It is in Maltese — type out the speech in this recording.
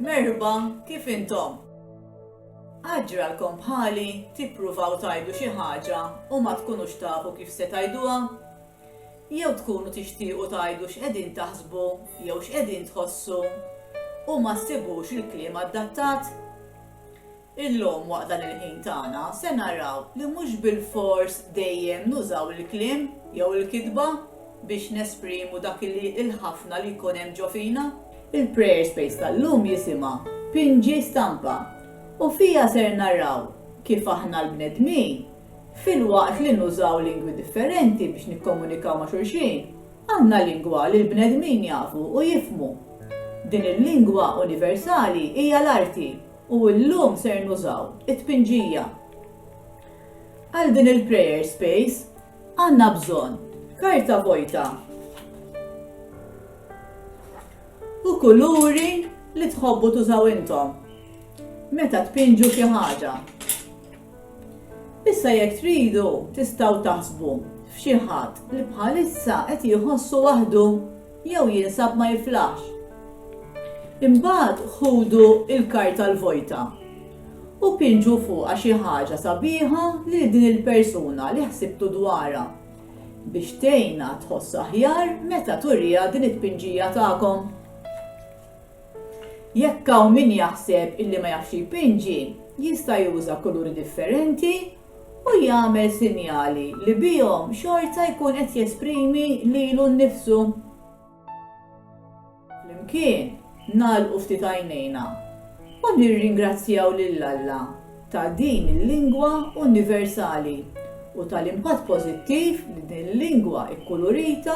Merħba, kif intom? Għad ġralkom bħali tippruvaw tgħidu xi ħaġa u ma tkunux tafu kif se tgħiduha? Jew tkunu tixtiequ tgħidu x'qegħdin taħsbu jew x'qegħdin tħossu u ma ssibux il-kliem adattat? Illum waqt dan il-ħin tagħna se naraw li mhux bilfors dejjem nużaw il-kliem jew il-kitba biex nesprimu dak li l-ħafna li jkun hemm ġo fina. Il-Prayer Space tal-lum jisimha Pinġi Stampa u fiha ser naraw kif aħna l-bnedmin, filwaqt li nużaw lingwi differenti biex nikkomunikaw ma' xulxin, għandna lingwa li l-bnedmin jafu u jifhmu. Din il-lingwa universali hija l-arti. U llum ser nużaw it-tpinġija. Għal din il-prayer space għandna bżonn karta vojta u kuluri li tħobbu tużaw intom meta tpinġu xi ħaġa. Issa jekk tridu tistgħu taħsbu f'xi ħadd li bħalissa qed jħossu waħdu jew jinsab ma jiflaħx. Imbagħad ħudu l-karta l-vojta u pinġu fuqha xi ħaġa sabiħa lil din il-persuna li ħsibtu dwarha biex tgħinha tħoss aħjar meta turiha din it-tpinġija tagħkom. Jekk hawn min jaħseb illi ma jafx jpinġi, jista' juża kuluri differenti u jagħmel sinjali li bihom xorta jkun qed jesprimi lilu nnifsu. Flimkien nagħlqu ftit għajnejna u nirringrazzjaw lil Alla ta' din il-lingwa universali u tal-impatt pożittiv li din il-lingwa kkulurita